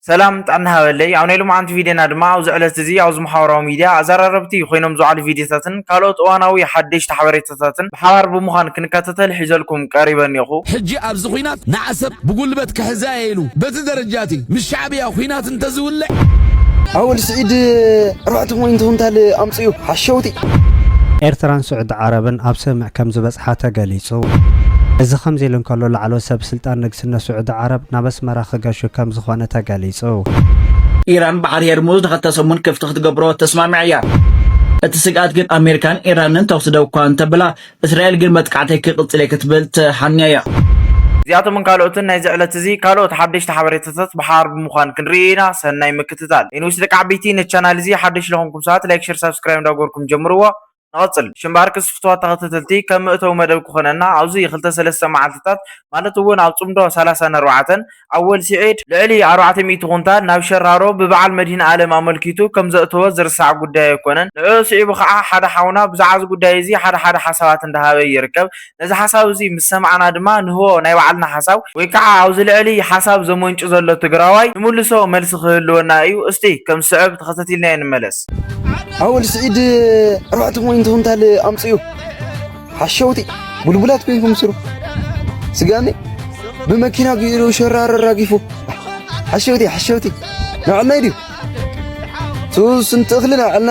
ሰላም ጥዕና ሃበለይ ኣብ ናይ ሎምዓንቲ ቪድዮና ድማ ኣብዚ ዕለት እዚ ኣብዚ መሓበራዊ ሚድያ ኣዘራረብቲ ኮይኖም ዝውዓሉ ቪድዮታትን ካልኦት እዋናዊ ሓደሽቲ ሓበሬታታትን ብሓባር ብምዃን ክንከታተል ሒዘልኩም ቀሪበ እኔኹ። ሕጂ ኣብዚ ኹናት ንዓሰብ ብጉልበት ክሕዛየ ኢሉ በቲ ደረጃ እቲ ምስ ሻዕብያ ኹናት እንተዝውልዕ። ኣወል ስዒድ ኣርባዕተ ፖይንት ኩንታል ኣምፂኡ ሓሸውቲ። ኤርትራን ስዑዲ ዓረብን ኣብ ስምምዕ ከምዝበጽሓ ተገሊጹ። እዚ ከምዚ ኢሉ እንከሎ ላዕለዎት ሰብስልጣን ስነ ስዑዲ ዓረብ ናብ ኣስመራ ክገሹ ከምዝኾነ ተገሊጹ። ኢራን ባሕሪ ሄርሙዝ ንኸልተ ሰሙን ክፍቲ ክትገብሮ ተስማሚዓ እያ። እቲ ስግኣት ግን ኣሜሪካን ኢራንን ተኹሲ ደው እኳ እንተብላ እስራኤል ግን መጥቃዕተይ ክቕጽል እየ ክትብል ተሓንያ እያ። እዚኣቶምን ካልኦትን ናይዚ ዕለት እዚ ካልኦት ሓደሽቲ ሓበሬታታት ብሓባር ብምዃን ክንርኢ ኢና ሰናይ ምክትታል። ኤኒዌይስ ደቂ ዓበይቲ ነቲ ቻናል እዚ ሓደሽ ለኾንኩም ሰባት ላይክ ሸር ሳብስክራይብ እንዳገበርኩም ጀምርዎ። ንቐጽል። ሽምባርክስ ፍትዋት ተኸተተልቲ ከም መእተዊ መደብ ክኾነና ኣብዚ ክልተ ሰለስተ መዓልትታት ማለት ውን ኣብ ጽምዶ ሰላሳን ኣርባዕተን ኣወል ሲዒድ ልዕሊ ኣርባዕተ ሚእቲ ኩንታል ናብ ሸራሮ ብበዓል መድሂንኣለም ኣመልኪቱ ከም ዘእተወ ዝርሳዕ ጉዳይ ኣይኮነን። ንዕኡ ስዒቡ ከኣ ሓደ ሓውና ብዛዕባ እዚ ጉዳይ እዚ ሓደ ሓደ ሓሳባት እንዳሃበ ይርከብ። ነዚ ሓሳብ እዚ ምስ ሰማዕና ድማ ንህቦ ናይ ባዕልና ሓሳብ ወይ ካዓ ኣብዚ ልዕሊ ሓሳብ ዘመንጩ ዘሎ ትግራዋይ ንምልሶ መልሲ ክህልወና እዩ እስቲ ከም ዝስዕብ ተኸተቲልናዮ ንመለስ። ኣወል ስዒድ ኣርባዕተ ፖይንት ኩንታል ኣምፅኡ ሓሸውቲ ቡልቡላት ኮይንኩም ስሩ ስጋኒ ብመኪና ገይሩ ሸራሮ ኣራጊፉ ሓሸውቲ ሓሸውቲ ንባዕልና ድዩ ስንት እኽሊ ንባዕልና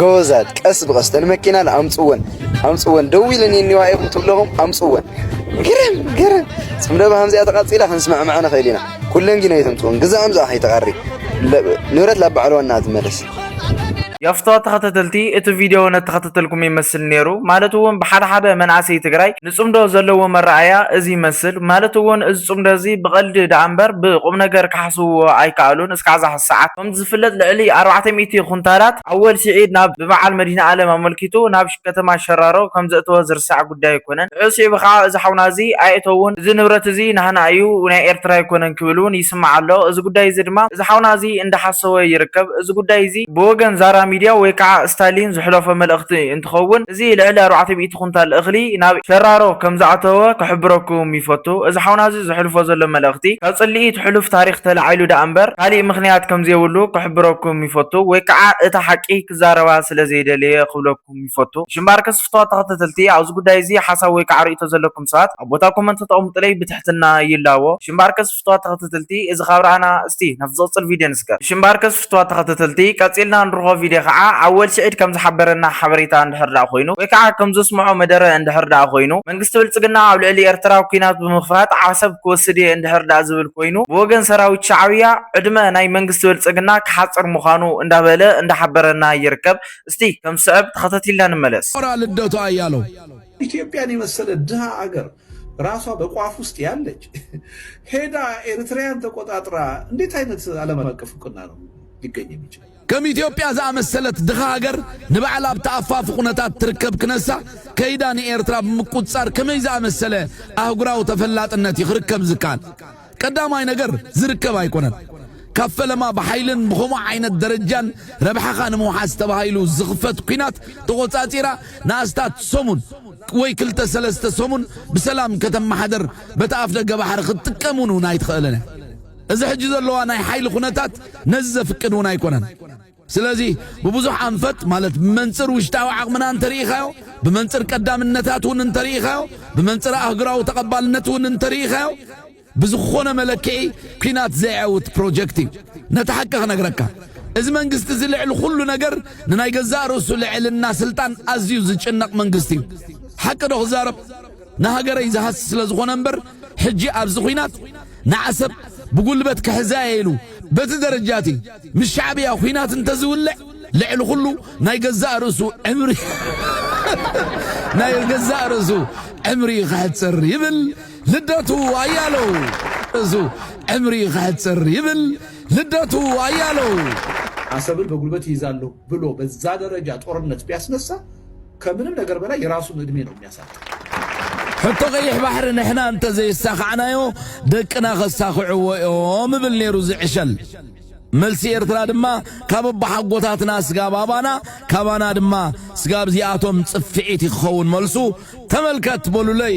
ጎበዛት ቀስ ብቀስ ተን መኪናን ኣምፅወን ኣምፅወን ደው ኢለን የኒዋ እየ ክትብለኹም ኣምፅወን ግርም ግርም ፅምደባ ከምዚኣ ተቃፂላ ክንስማዕማዕ ንኽእል ኢና ኩለን ግን ኣይተምፅወን ግዛኣም ዝኣ ከይተቐሪ ንብረት ላብ ባዕሉ ዋና ትመለስ ያፍተዋ ተኸታተልቲ እቲ ቪድዮ ነተኸታተልኩም ይመስል ነይሩ ማለት እውን ብሓደ ሓደ መናእሰይ ትግራይ ንፅምዶ ዘለዎ መረኣያ እዚ ይመስል ማለት እውን እዚ ፅምዶ እዚ ብቐልዲ ደኣ እምበር ብቁም ነገር ክሓስብዎ ኣይከኣሉን እስካዕ ዛሕዚ ሰዓት ከም ዝፍለጥ ልዕሊ ኣርባዕተ ሚእቲ ኩንታላት ኣወል ስዒድ ናብ ብበዓል መድሂንኣለም ኣመልኪቱ ናብ ከተማ ሸራሮ ከም ዘእተወ ዝርሳዕ ጉዳይ ኣይኮነን። ንዕኡ ስዒቡ ከኣ እዚ ሓውና እዚ ኣየእተውን እዚ ንብረት እዚ ናህና እዩ ናይ ኤርትራ ኣይኮነን ክብል እውን ይስማዕ ኣሎ። እዚ ጉዳይ እዚ ድማ እዚ ሓውና እዚ እንዳሓሰወ ይርከብ። እዚ ጉዳይ እዚ ብወገን ዛራ ሚድያ ወይ ከኣ ስታሊን ዝሕለፎ መልእኽቲ እንትኸውን እዚ ልዕሊ ኣርባዕተ ሚእቲ ኩንታል እኽሊ ናብ ሸራሮ ከም ዝኣተወ ክሕብረኩም ይፈቱ። እዚ ሓውና እዚ። ዘሕልፎ ዘሎ መልእኽቲ ካብ ጽልኢ እቲ ሕሉፍ ታሪኽ ተላዒሉ ደኣ እምበር ካሊእ ምኽንያት ከምዘይብሉ ክሕብረኩም ይፈቱ ወይ ከኣ እታ ሓቂ ክዛረባ ስለ ዘይደለየ ክብለኩም ይፈቱ እሺ እምበኣር ከስፍትዋ ተኸተተልቲ ኣብዚ ጉዳይ እዚ ሓሳብ ወይ ከኣ ርእይቶ ዘለኩም ሰባት ኣብ ቦታ ኮመንት ክተቐሙጥለይ ብትሕትና ይላቦ እሺ እምበኣር ከስፍትዋ ተኸተተልቲ እዚ ካብ ረኣና እስቲ ናብ ዝቕጽል ቪድዮ ንስገር እሺ እምበኣር ንፍትዋ ተኸተተልቲ ቀጺልና ንርኾ ቪድዮ ካዓ ኣወል ሲዒድ ከም ዝሓበረና ሓበሬታ እንድሕር ዳኣ ኮይኑ ወይ ካዓ ከም ዘስምዖ መደረ እንድሕር ዳኣ ኮይኑ መንግስቲ ብልጽግና ኣብ ልዕሊ ኤርትራ ኩናት ብምኽፋት ዓሰብ ክወስድ እየ እንድሕር ዳኣ ዝብል ኮይኑ ብወገን ሰራዊት ሻዕብያ ዕድመ ናይ መንግስቲ ብልጽግና ክሓጽር ምዃኑ እንዳበለ እንዳሓበረና ይርከብ እስቲ ከም ዝስዕብ ተኸተቲልና ንመለስ። ኮራ ልደቱ ኣያለው። ኢትዮጵያን የመሰለ ድሃ ሃገር ራሷ በቋፍ ውስጥ ያለች ሄዳ ኤርትራያን ተቆጣጥራ እንዴት አይነት ዓለም አቀፍ እውቅና ነው ሊገኝ የሚችል? ከም ኢትዮጵያ ዝኣመሰለት ድኻ ሃገር ንባዕላ ኣብ ተኣፋፊ ኩነታት ትርከብ ክነሳ ከይዳ ንኤርትራ ብምቁፅፃር ከመይ ዝኣመሰለ ኣህጉራዊ ተፈላጥነት እዩ ክርከብ ዝከኣል? ቀዳማይ ነገር ዝርከብ ኣይኮነን። ካብ ፈለማ ብሓይልን ብኸምኡ ዓይነት ደረጃን ረብሓኻ ንምውሓስ ተባሂሉ ዝኽፈት ኲናት ተቖጻጺራ ንኣስታት ሰሙን ወይ ክልተ ሰለስተ ሰሙን ብሰላም ከተመሓደር በቲ ኣፍደገ ባሕሪ ክትጥቀም እውን እውን ኣይትኽእልን እያ። እዚ ሕጂ ዘለዋ ናይ ሓይሊ ኩነታት ነዚ ዘፍቅድ እውን ኣይኮነን። ስለዚ ብብዙሕ ኣንፈት ማለት ብመንጽር ውሽጣዊ ዓቕምና እንተርኢኻዮ፣ ብመንጽር ቀዳምነታት እውን እንተርኢኻዮ፣ ብመንጽር ኣህጉራዊ ተቐባልነት እውን እንተርኢኻዮ ብዝኾነ መለክዒ ኲናት ዘየዐውት ፕሮጀክት እዩ። ነቲ ሓቂ ክነግረካ እዚ መንግስቲ እዚ ልዕሊ ኩሉ ነገር ንናይ ገዛእ ርእሱ ልዕልና ስልጣን ኣዝዩ ዝጭነቕ መንግስቲ እዩ። ሓቂ ዶ ክዛረብ? ንሃገረይ ዝሃሲ ስለ ዝኾነ እምበር ሕጂ ኣብዚ ኹናት ንዓሰብ ብጉልበት ክሕዛ እየ ኢሉ በቲ ደረጃ እቲ ምስ ሻዕብያ ኹናት እንተዝውልዕ ልዕሊ ኩሉ ናይ ገዛእ ርእሱ ዕምሪ ናይ ገዛእ ርእሱ ዕምሪ ክሕጽር ይብል ልደቱ ኣያለው ርእሱ ዕምሪ ክሕጽር ይብል ልደቱ ኣያለው አሰብን በጉልበት ይይዛለሁ ብሎ በዛ ደረጃ ጦርነት ቢያስነሳ ከምንም ነገር በላይ የራሱን እድሜ ነው የሚያሳጥር። ሕቶ ቀይሕ ባሕሪ ንሕና እንተ ዘየሳኻዕናዮ ደቅና ከሳኽዕዎ እዮም እብል ነይሩ እዚ ዕሸል። መልሲ ኤርትራ ድማ ካብ ኣቦሓጎታትና ስጋብ ኣባና ካባና ድማ ስጋብ ዚኣቶም ጽፍዒት ክኸውን መልሱ ተመልከት በሉለይ።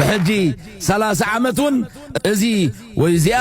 ብሕጂ ሰላሳ ዓመት ውን እዚ ወይ እዚኣ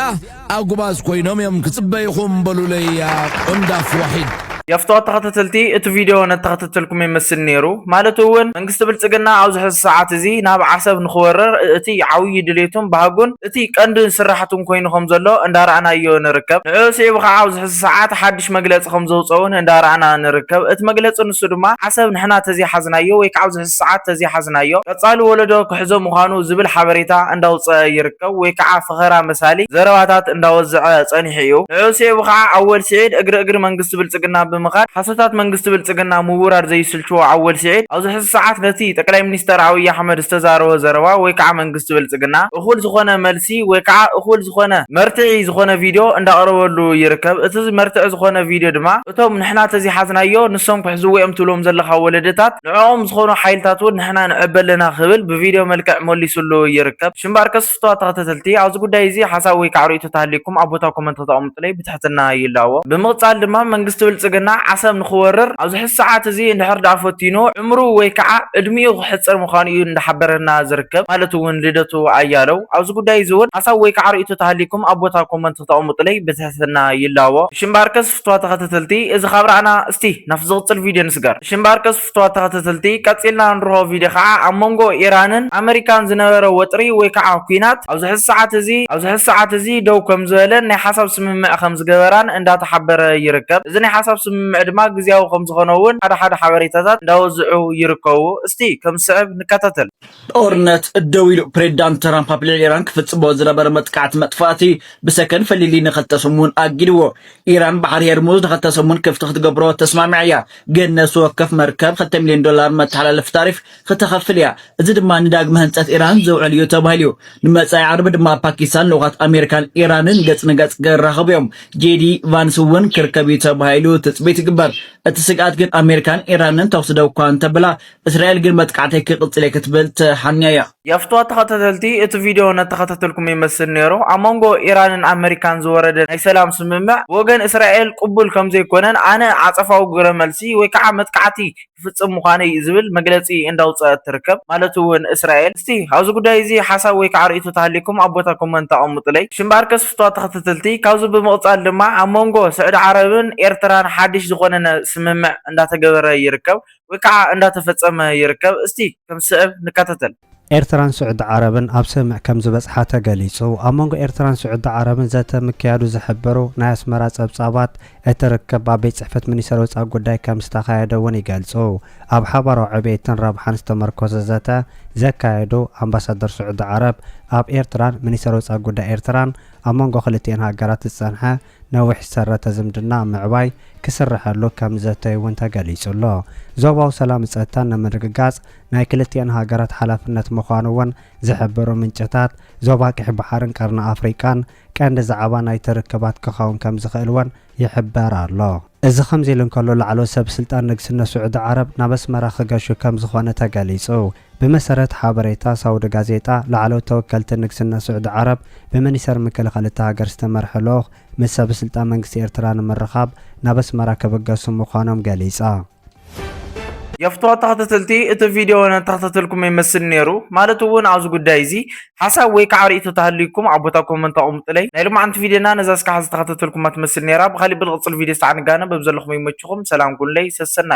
ኣጉባዝ ኮይኖም እዮም ክጽበይኹም በሉለይያ ቆንዳፍ ዋሒድ። የፍትወት ተኸታተልቲ እቲ ቪድዮ ነተኸታተልኩም ይመስል ነይሩ ማለት እውን መንግስቲ ብልፅግና ኣብዚ ሕዚ ሰዓት እዚ ናብ ዓሰብ ንክወርር እቲ ዓብዪ ድሌቱን ባህጉን እቲ ቀንድን ስራሕቱን ኮይኑ ከምዘሎ እንዳረኣናዮ ንርከብ ንዕኡ ስዒቡ ከዓ ኣብዚ ሕዚ ሰዓት ሓዱሽ ሓድሽ መግለፂ ከምዘውፀኡ እውን እንዳረኣና ንርከብ። እቲ መግለፂ ንሱ ድማ ዓሰብ ንሕና ተዘይሓዝናዮ ወይ ከዓ ኣብዚ ሕዚ ሰዓት ተዘይሓዝናዮ ቀፃሊ ወለዶ ክሕዞ ምዃኑ ዝብል ሓበሬታ እንዳውፀኣ ይርከብ ወይ ከዓ ፈኸራ መሳሊ ዘረባታት እንዳወዘዐ ፀኒሑ እዩ። ንዕኡ ስዒቡ ከዓ ኣወል ስዒድ እግሪ እግሪ መንግስቲ ብልፅግና ብምኻድ ሓሶታት መንግስቲ ብልፅግና ምውራድ ዘይስልችዎ ኣወል ስዒድ ኣብዚ ሕዚ ሰዓት ነቲ ጠቅላይ ሚኒስተር ኣብይ ኣሕመድ ዝተዛረቦ ዘረባ ወይ ከዓ መንግስቲ ብልፅግና እኹል ዝኾነ መልሲ ወይ ከዓ እኹል ዝኾነ መርትዒ ዝኾነ ቪድዮ እንዳቕረበሉ ይርከብ። እቲ መርትዒ ዝኾነ ቪድዮ ድማ እቶም ንሕና ተዘይሓዝናዮ ንሶም ክሕዝዎ'ዮም ትብሎም ዘለኻ ወለዶታት ንዕኦም ዝኾኑ ሓይልታት'ውን ንሕና ንዕበ ኣለና ክብል ብቪድዮ መልክዕ መሊሱሉ ይርከብ። ሽምባርከስ ፍቱዋት ተኸታተልቲ ኣብዚ ጉዳይ እዚ ሓሳብ ወይ ከዓ ርእይቶ ተሃልዩኩም ኣብ ቦታ ኮመንት ከተቐምጡለይ ትሕትና ይላቦ። ብምቕጻል ድማ መንግስቲ ብልጽግና ዓሰብ ንኽወርር ኣብዚ ሕዚ ሰዓት እዚ እንድሕር ድኣ ፈቲኑ ዕምሩ ወይ ክዓ ዕድሚኡ ክሕጽር ምዃኑ እዩ እንዳሓበረና ዝርከብ ማለት እውን ልደቱ ኣያለው ኣብዚ ጉዳይ እዚ እውን ሓሳብ ወይ ክዓ ርእይቶ ተሃልይኩም ኣብ ቦታ ኮመንት ክተቐምጡለይ ብትሕትና ይላቦ። እሺ እምበኣርከስ ፍትዋት ተኸታተልቲ እዚ ካብ ራእና እስቲ ናብቲ ዝቕጽል ቪድዮ ንስገር። እሺ እምበኣርከስ። ክፍትዋ ተኸተተልቲ ቀጺልና እንርሆ ቪድዮ ካዓ ኣብ መንጎ ኢራንን ኣመሪካን ዝነበረ ወጥሪ ወይ ካዓ ኩናት ኣብዚ ሕዚ ሰዓት እዚ ኣብዚ ሕዚ ሰዓት እዚ ደው ከምዝበለን ናይ ሓሳብ ስምምዕ ከምዝገበራን እንዳተሓበረ ይርከብ እዚ ናይ ሓሳብ ስምምዕ ድማ ግዝያዊ ከምዝኾነ እውን ሓደ ሓደ ሓበሬታታት እንዳወዝዑ ይርከቡ እስቲ ከምዝስዕብ ንከታተል። ጦርነት ደው ኢሉ ፕሬዚዳንት ትራምፕ ኣብ ልዕሊ ኢራን ክፍጽሞ ዝነበረ መጥቃዕቲ መጥፋእቲ ብሰከን ፈሊሊ ንኸልተ ሰሙን ኣጊድዎ። ኢራን ባሕሪ ሄርሙዝ ንኸልተ ሰሙን ክፍቲ ክትገብሮ ተስማሚዓ እያ። ግን ነፍሲ ወከፍ መርከብ ክልተ ሚልዮን ዶላር መተሓላለፊ ታሪፍ ክተኸፍል እያ፣ እዚ ድማ ንዳግመ ህንጸት ኢራን ዝውዕል እዩ ተባሂሉ'ዩ። ንመጻኢ ዓርቢ ድማ ፓኪስታን ልኡኻት ኣሜሪካን ኢራንን ገጽ ንገጽ ክራኸቡ እዮም፣ ጄዲ ቫንስ'ውን ክርከብ'ዩ ተባሂሉ ትጽቢት ይግበር። እቲ ስግኣት ግን ኣሜሪካን ኢራንን ተኹሲ ደው እኳ እንተበላ እስራኤል ግን መጥቃዕተይ ክቕጽል እየ ክትብል ተሓንያ እያ። የፍትዋ ተኸታተልቲ እቲ ቪድዮ እነተኸታተልኩም ይመስል ነይሩ። ኣብ መንጎ ኢራንን ኣመሪካን ዝወረደ ናይ ሰላም ስምምዕ ብወገን እስራኤል ቅቡል ከምዘይኮነን ኣነ ዓጸፋዊ ግብረ መልሲ ወይ ከዓ መጥቃዕቲ ክፍጽም ምዃነይ ዝብል መግለጺ እንዳውጸእት ትርከብ ማለት እውን እስራኤል። እስቲ ኣብዚ ጉዳይ እዚ ሓሳብ ወይ ከዓ ርእይቶ ተሃልይኩም ኣብ ቦታ ኮመንት ኣቐምጡለይ። ሽምባርከስ ፍትዋ ተኸታተልቲ ካብዚ ብምቕጻል ድማ ኣብ መንጎ ስዕዲ ዓረብን ኤርትራን ሓድሽ ዝኾነነ ስምምዕ እንዳተገበረ ይርከብ። ወይ ከዓ እንዳተፈፀመ ይርከብ። እስቲ ከም ስዕብ ንከታተል። ኤርትራን ስዑዲ ዓረብን ኣብ ስምምዕ ከምዝበጽሓ ተገሊጹ። ኣብ መንጎ ኤርትራን ስዑዲ ዓረብን ዘተ ምክያዱ ዝሕብሩ ናይ ኣስመራ ጸብጻባት፣ እቲ ርክብ ኣብ ቤት ጽሕፈት ሚኒስተር ወጻኢ ጉዳይ ከምዝተኻየደ እውን ይገልጹ። ኣብ ሓባራዊ ዕብየትን ረብሓን ዝተመርኮሰ ዘተ ዘካየዱ ኣምባሳደር ስዑዲ ዓረብ ኣብ ኤርትራን ሚኒስተር ወጻኢ ጉዳይ ኤርትራን፣ ኣብ መንጎ ክልቲኤን ሃገራት ዝጸንሐ ነዊሕ ዝሰረተ ዝምድና ኣብ ምዕባይ ክስረሐሉ ከም ዝዘተዩ እውን ተገሊፁ ኣሎ። ዞባዊ ሰላምን ፀጥታን ንምርግጋፅ ናይ ክልቲኤን ሃገራት ሓላፍነት ምዃኑ እውን ዝሕብሩ ምንጭታት፣ ዞባ ቀይሕ ባሕርን ቀርኒ ኣፍሪቃን ቀንዲ ዛዕባ ናይቲ ርክባት ክኸውን ከም ዝኽእል እውን ይሕበር ኣሎ። እዚ ከምዚ ኢሉ እንከሎ፣ ላዕለዎት ሰብስልጣን ንግስነት ስዑዲ ዓረብ ናብ ኣስመራ ክገሹ ከም ዝኾነ ተገሊፁ። ብመሰረት ሓበሬታ ሳውዲ ጋዜጣ፣ ላዕለዎት ተወከልቲ ንግስነት ስዑዲ ዓረብ፣ ብሚኒሰር ምክልኻል እታ ሃገር ዝተመርሐ ልኡኽ ምስ ሰበስልጣን መንግስቲ ኤርትራ ንምርኻብ ናብ ኣስመራ ክብገሱ ምዃኖም ገሊጻ። የፍትሖ ተኸታተልቲ እቲ ቪድዮ ነተኸታተልኩሞ ይመስል ኔሩ ማለት እውን ኣብዚ ጉዳይ እዚ ሓሳብ ወይ ከዓ ርእይቶ ተሃልዩኩም ኣብ ቦታ ኮመንት ኣቕምጡለይ ናይ ሎማዓንቲ ቪድዮና ነዛ እስካዕ ዝተኸታተልኩማ ትመስል ኔራ ብኻሊእ ብልቕፅል ቪድዮ ስታዕ ንጋነ በብዘለኹሞ ይመችኹም ሰላም ኩኑለይ ሰሰናዩ